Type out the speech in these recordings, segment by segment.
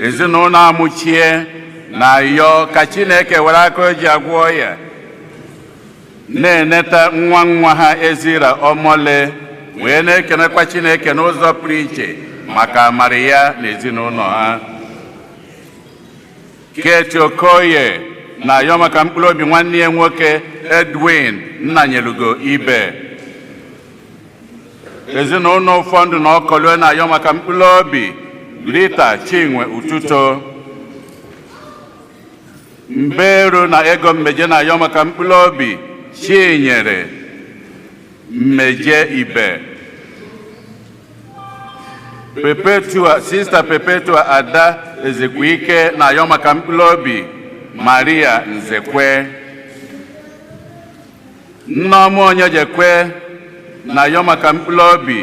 ezinụlọ Amụchie na-ayọ ka Chineke were aka o ji agwọ ọya na-eneta nwa nwa ha Ezira Omole wee na-ekenekwa Chineke n'ụzọ pụrụ iche maka amara ya n'ezinụlọ ha Kate Okoye na-ayọ maka mkpụrụ obi nwanne ya nwoke Edwin Nnanyelugo Ibe ezinụlọ Ụfọndụ na Okolue na-ayọ maka mkpụrụ obi Rita Chinwe Ututo Mberu na Ego Mmeje na-ayọ maka mkpụrụ obi Chinyere Mmeje Ibe Perpetua Sista Perpetua Ada Ezekwike na-ayọ maka mkpụrụ obi Maria Nzekwe Nneọma Onyejekwe na-ayọ maka mkpụrụ obi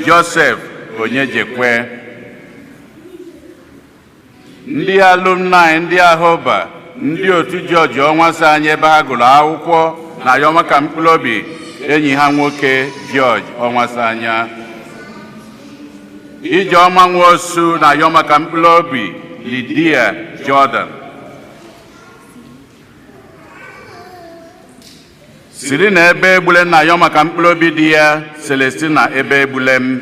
Joseph Onyejekwe. Ndị alumni ndị Ahoba ndị otu George Onwuasanya ebe ha gụrụ akwụkwọ na-ayọ maka mkpụrụ obi enyi ha nwoke George Onwuasanya. Ijeọma Nwosu na-ayọ maka mkpụrụ obi Lydia Jordan. Serena Ebegbulem na-ayọ maka mkpụrụ obi di ya Celestine Ebegbulem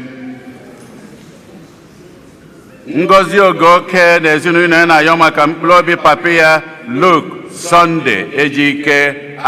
Ngozi Ogoke na ezinụlọ ya na-ayọ maka mkpụrụ obi papa ya Luke Sunday Ejike